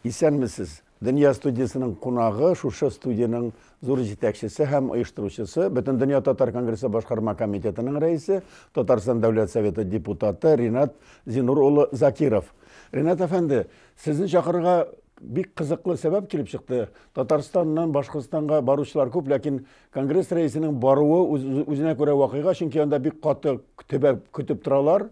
Исәнмесез! Дөнья студиясенең кунагы шушы студиянең зур җитәкчесе һәм оештыручысы, Бөтендөнья татар конгрессы башкарма комитетының рәисе, Татарстан Дәүләт Советы депутаты Ринат Зинур улы Закиров. Ринат әфәнде, Сезне чакырырга бик кызыклы сәбәп килеп чыкты. Татарстаннан Башкортстанга баручылар күп, ләкин конгресс рәисенең баруы үзенә күрә вакыйга, чөнки анда бик каты төбәп көтеп торалар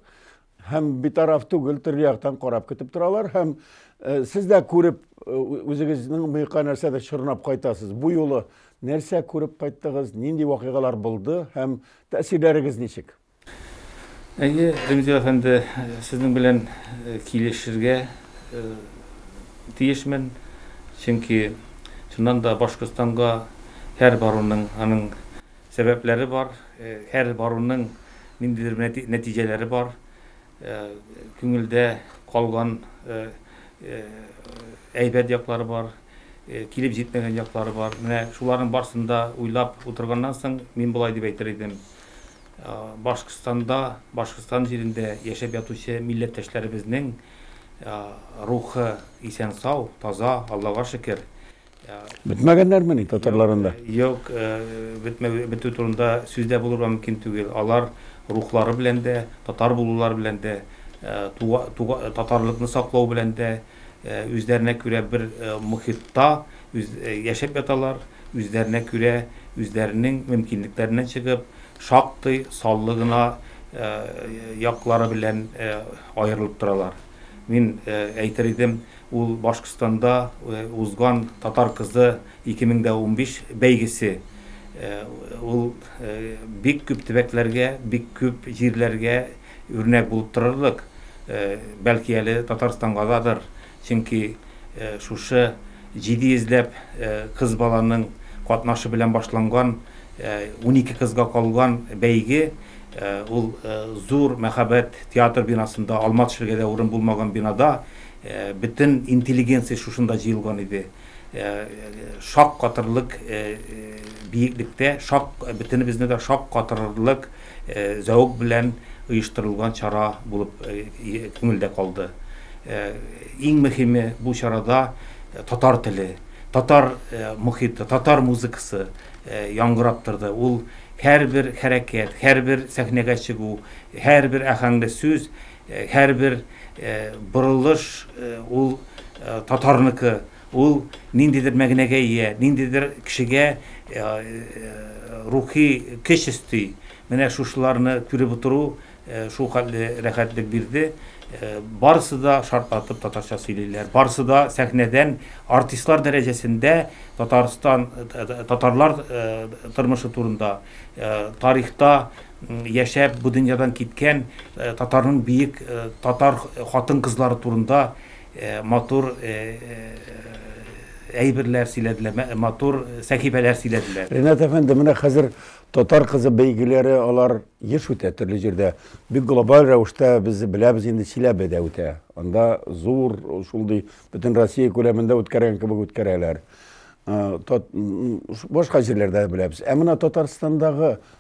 һәм битараф түгел, төрле яктан карап көтеп торалар һәм э, сез дә күреп э, үзегезнең мыекка нәрсәдер чорнап кайтасыз. Бу юлы нәрсә күреп кайттыгыз, нинди вакыйгалар булды һәм тәэсирләрегез ничек? Әйе, Ремзил әфәнде, сезнең белән килешергә тиешмен, чөнки чыннан да Башкортстанга һәр баруның аның сәбәпләре бар, һәр баруның ниндидер нәтиҗәләре бар, күңелдә калган әйбәт яклары бар, килеп җитмәгән яклары бар. Менә шуларның барсын да уйлап утырганнан соң, мин болай дип әйтер идем. Башкортстанда, Башкортстан җирендә яшәп ятучы милләттәшләребезнең рухы исән-сау, таза, Аллага шөкер. Бетмәгәннәрмени татарлар анда? Юк, бетү турында сүз дә булырга мөмкин түгел. Алар рухлары белән дә, татар булулары белән дә, татарлыкны саклау белән дә, Үзләренә күрә бер мохитта яшәп яталар, үзләренә күрә, үзләренең мөмкинлекләреннән чыгып, шактый саллы гына яклары белән аерылып торалар. Мин әйтер идем, ул Башкортстанда узган Татар кызы 2015 бәйгесе. Ул бик күп төбәкләргә, бик күп җирләргә. Үрнәк булып торырлык, бәлки әле Татарстанга дадыр, чөнки шушы җиде йөзләп кыз баланың катнашы белән башланган, унике кызга калган бәйге, ул зур мәһабәт театр бинасында, алма төшергә дә урын булмаган бинада, бөтен интеллигенция шушында җыелган иде. Шак катырлык биеклектә, бөтенебезне дә шак катырырлык зәвык белән оештырылган чара булып күңелдә калды. Иң мөһиме, бу чарада татар теле, татар мохиты, татар музыкасы яңгырап торды. Ул һәрбер хәрәкәт, һәрбер сәхнәгә чыгу, һәрбер аһәңле сүз Һәрбер борылыш ул татарныкы, ул ниндидер мәгънәгә ия, ниндидер кешегә рухи көч өсти. Менә шушыларны күреп утыру шул хәтле рәхәтлек бирде. Барысы да шартлатып татарча сөйлиләр, барысы да сәхнәдән артистлар дәрәҗәсендә Татарстан, татарлар тормышы турында, тарихта яшәп бу дөньядан киткән татарның биек татар хатын-кызлары турында матур әйберләр сөйләделәр, матур сәхифәләр сөйләделәр. Ренат әфәнде, менә хәзер татар кызы бәйгеләре алар еш үтә төрле җирдә. Бик глобаль рәвештә без беләбез инде Чиләбедә үтә. Анда зур шундый бөтен Россия күләмендә үткәргән кебек үткәрәләр. Башка җирләрдә беләбез. Ә менә Татарстандагы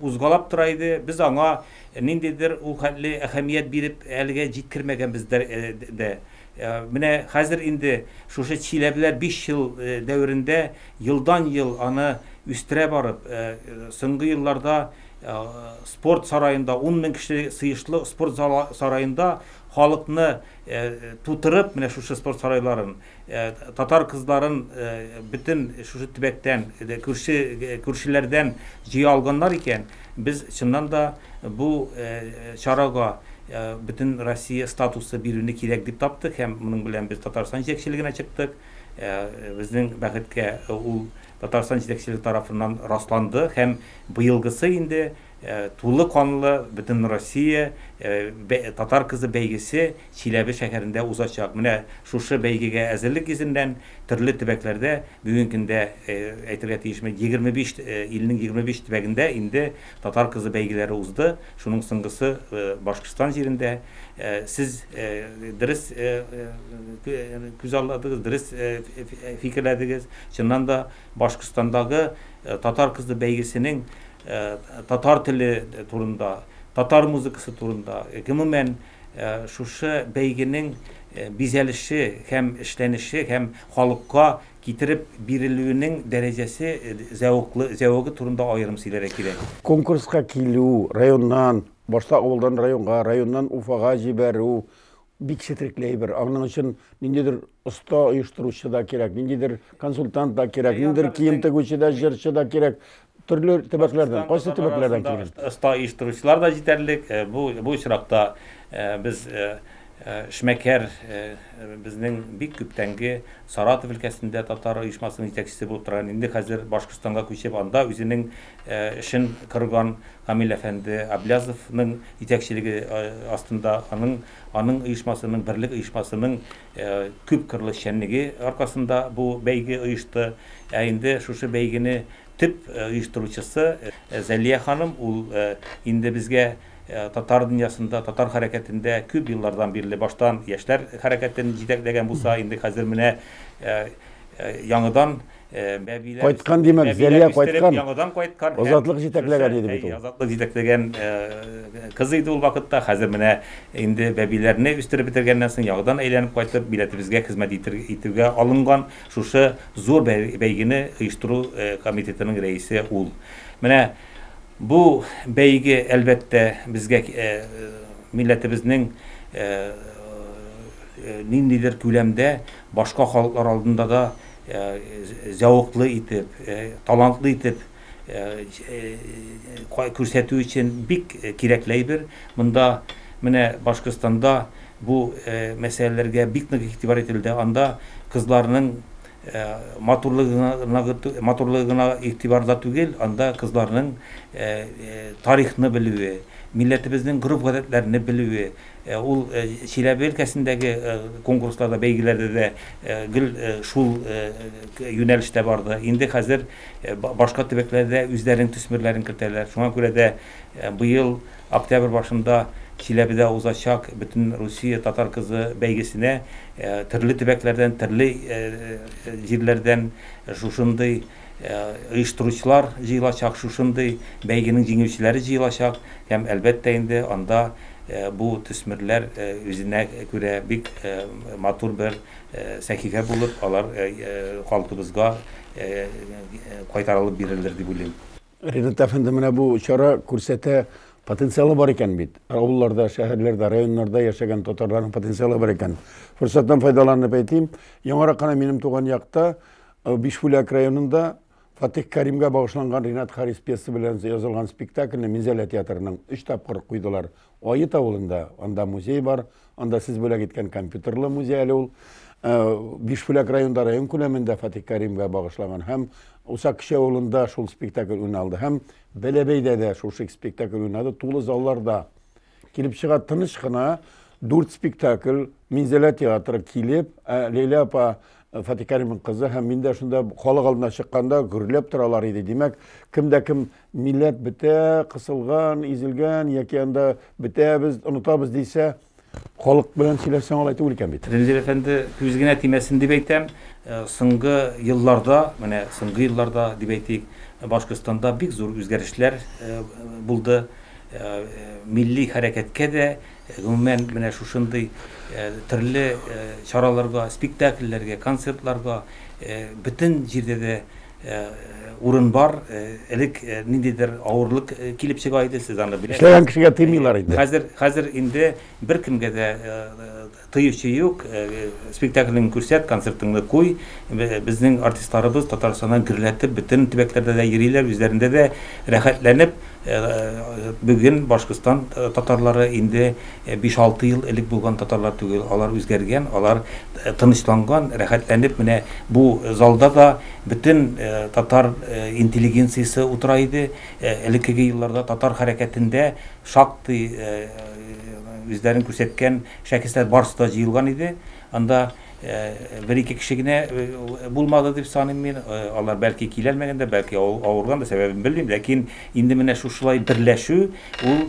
Узгалап тора иде, без аңа ниндидер ул хәтле әһәмият биреп әлегә җиткермәгәнбез дә. Менә хәзер инде шушы Чиләбеләр биш ел дәверендә елдан-ел аны үстерә барып, соңгы елларда спорт сараенда, ун мең кеше сыешлы спорт сараенда халыкны тутырып, менә шушы спорт сарайларын, Татар кызларын бөтен шушы төбәктән, күрше күршеләрдән җыя алганнар икән, без чыннан да бу чарага бөтен Россия статусы бирүне кирәк дип таптык һәм моның белән без Татарстан җитәкчелегенә чыктык. Безнең бәхеткә ул Татарстан җитәкчелеге тарафыннан расланды һәм быелгысы инде Тулы канлы Бөтенроссия татар кызы бәйгесе Чиләбе шәһәрендә узачак. Менә шушы бәйгегә әзерлек йөзеннән төрле төбәкләрдә, бүгенге көндә, әйтергә тиешмен, 25 илнең 25 төбәгендә инде татар кызы бәйгеләре узды, шуның соңгысы Башкортстан җирендә. Сез дөрес күзалладыгыз, дөрес фикерләдегез. Чыннан да, Башкортстандагы татар кызы бәйгесенең татар теле турында, татар музыкасы турында, гомумән, шушы бәйгенең бизәлеше һәм эшләнеше һәм халыкка китереп бирелүенең дәрәҗәсе, зәвыклы, зәвыгы турында аерым сөйләргә кирәк. Конкурска килү, районнан, башта авылдан районга, районнан Уфага җибәрү, бик четерекле әйбер. Аның өчен ниндидер оста оештыручы да кирәк, ниндидер консультант та кирәк, ниндидер кием тегүче дә, җырчы да кирәк. Төрле төбәкләрдән, кайсы төбәкләрдән килгән? Оста оештыручылар да җитәрлек. Бу бу очракта без эшмәкәр безнең бик күптәнге Саратов өлкәсендә татар оешмасының җитәкчесе булып торган, инде хәзер Башкортстанга күчеп, анда үзенең эшен корган Камил әфәнде Аблязовның җитәкчелеге астында аның аның оешмасының, Берлек оешмасының Күп кырлы эшчәнлеге аркасында бу бәйге оешты. Ә инде шушы бәйгене төп оештыручысы Зәлия ханым. Ул инде безгә татар дөньясында, татар хәрәкәтендә күп еллардан бирле баштан яшьләр хәрәкәтен җитәкләгән булса, инде хәзер менә яңадан Бәбиләр кайткан димәк, Зәлия кайткан. Яңадан кайткан. Азатлык җитәкләгән иде бит ул. Азатлык җитәкләгән кыз иде ул вакытта. Хәзер менә инде бәбиләрне үстереп бетергәннән соң яңадан әйләнеп кайтып, милләтебезгә хезмәт итүгә алынган шушы зур бәйгене оештыру комитетының рәисе ул. Менә бу бәйге, әлбәттә, безгә милләтебезнең ниндидер күләмдә башка халыклар алдында да зәвыклы итеп, талантлы итеп күрсәтү өчен бик кирәкле әйбер. Монда менә Башкортстанда бу мәсьәләләргә бик нык игътибар ителде. Анда кызларның матурлыгы матурлыгы гына игътибарда түгел, анда кызларның тарихны белүе, милләтебезнең гореф-гадәтләрне белүе, Ул Чиләбе өлкәсендәге конкурсларда, бәйгеләрдә дә гел шул юнәлештә барды. Инде хәзер башка төбәкләр дә үзләренең төсмерләрен кертәләр. Шуңа күрә дә быел октябрь башында Чиләбедә узачак Бөтенрусия татар кызы бәйгесенә төрле төбәкләрдән, төрле җирләрдән шушындый Оештыручылар җыелачак, шушындый бәйгенең җиңүчеләре җыелачак һәм, әлбәттә инде, анда бу төсмерләр үзенә күрә бик матур бер сәхифә булып, алар халкыбызга кайтарылып бирелер дип уйлыйм. Ренат әфәнде, менә бу чара күрсәтә, потенциалы бар икән бит. Авылларда, шәһәрләрдә, районнарда яшәгән татарларның потенциалы бар икән. Форсаттан файдаланып әйтим, яңарак кына минем туган якта Бишбүләк районында Фатих Кәримгә багышланган Ринат Харис пьесы белән язылган спектакльне Минзәлә театрының өч тапкыр куйдылар. Аит авылында, анда музей бар, анда сез бүләк иткән компьютерлы музей әле ул. Э, Бишбүләк районында район күләмендә Фатих Кәримгә багышланган һәм Усак кече авылында шул спектакль уйналды һәм Бәләбәйдә дә шул спектакль уйнады, тулы залларда. Килеп чыга тыныч кына дүрт спектакль Минзәлә театры килеп, ә Ләйлә апа Фатих Кәримов кызы һәм мин дә шунда халык алдына чыкканда гөрләп торалар иде. Димәк, кем дә кем милләт бетә, кысылган, изелгән яки анда бетәбез, онытабыз дисә, халык белән сөйләшсәң алай түгел икән бит. Рәнзил әфәнде күз генә тимәсен дип әйтәм, соңгы елларда, менә соңгы елларда дип әйтик, Башкортстанда бик зур үзгәрешләр булды. Милли хәрәкәткә дә, гомумән, менә шушындый төрле чараларга, спектакльләргә, концертларга бөтен җирдә дә урын бар. Элек ниндидер авырлык килеп чыга иде, сез аны беләсез. Эшләгән кешегә тыймыйлар инде. Хәзер, хәзер инде беркемгә дә Тыючы юк, спектакльңне күрсәт, концертыңны куй. Безнең артистларыбыз Татарстаннан гөрләтеп бөтен төбәкләрдә дә йөриләр, үзләрендә дә рәхәтләнеп. Бүген Башкортстан татарлары инде биш-алты ел элек булган татарлар түгел, алар үзгәргән, алар тынычланган, рәхәтләнеп менә бу залда да бөтен татар интеллигенциясе утыра иде. Элеккеге елларда татар хәрәкәтендә. Шактый үзләрен күрсәткән шәхесләр барысы да җыелган иде. Анда бер-ике кеше генә булмады дип саныйм мин. Алар бәлки килә алмаган да, бәлки авырган да, сәбәбен белмим. Ләкин инде менә шушылай берләшү, ул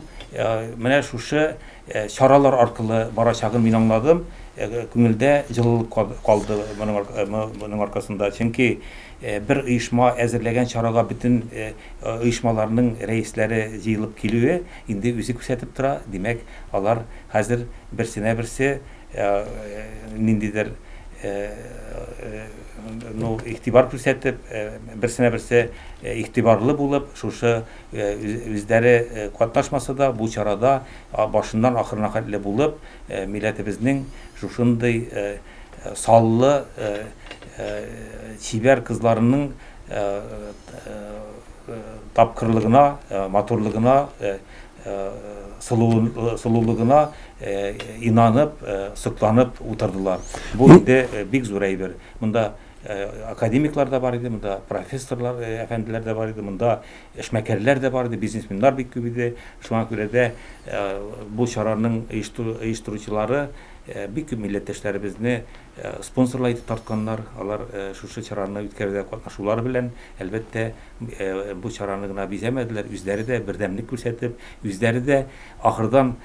менә шушы чаралар аркылы барачагын мин аңладым. Күңелдә җылылык калды моның аркасында. Чөнки. Бер оешма әзерләгән чарага бөтен оешмаларның рәисләре җыелып килүе инде үзе күрсәтеп тора, димәк, алар хәзер берсенә-берсе ниндидер ну игътибар күрсәтеп, берсенә-берсе игътибарлы булып, шушы үзләре катнашмаса да, бу чарада башыннан ахырына хәтле булып, милләтебезнең шушындый Саллы, чибәр кызларының тапкырлыгына, матурлыгына, сылулыгына инанып, сокланып утырдылар. Бу инде бик зур әйбер. Монда академиклар да бар иде, монда профессорлар, әфәнделәр дә бар иде, монда эшмәкәрләр дә бар иде, бизнесменнар бик күп иде. Шуңа күрә дә бу чараның оештыручылары Бик күп милләттәшләребезне спонсорлар итеп тартканнар. Алар шушы чараны үткәрүдә катнашулары белән, әлбәттә, бу чараны гына бизәмәделәр, үзләре дә бердәмлек күрсәтеп, үзләре дә ахырдан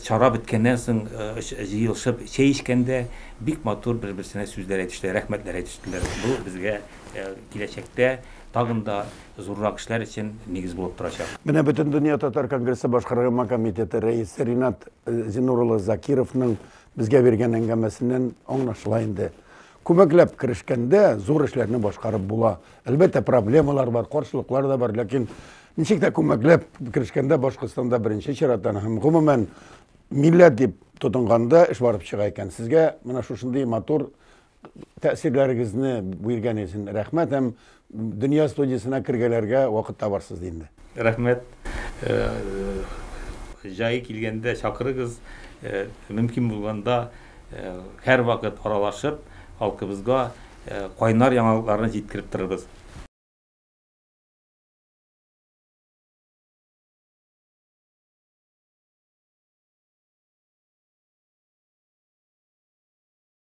чара беткәннән соң җыелышып чәй эчкәндә бик матур бер-берсенә сүзләр әйтештеләр, рәхмәтләр әйтештеләр. Бу безгә киләчәктә тагын да зуррак эшләр өчен нигез булып торачак. Менә Бөтендөнья татар конгрессы башкаргама комитеты рәисе Ринат Зиннур улы Закировның безгә биргән әңгәмәсеннән аңлашыла инде. Күмәкләп керешкәндә, зур эшләрне башкарып була. Әлбәттә, проблемалар бар, каршылыклар да бар, ләкин ничек тә күмәкләп керешкәндә Башкортстанда беренче чираттан һәм гомумән милләт дип тотынганда эш барып чыга икән. Сезгә менә шушындый матур Тәэсирләрегезне биргәне өчен рәхмәт һәм Дөнья студиясенә кергәләргә вакыт табарсыз ди инде. Рәхмәт. Җае килгәндә чакырыгыз. Мөмкин булганда һәрвакыт аралашып, халкыбызга кайнар яңалыкларны җиткереп торырбыз.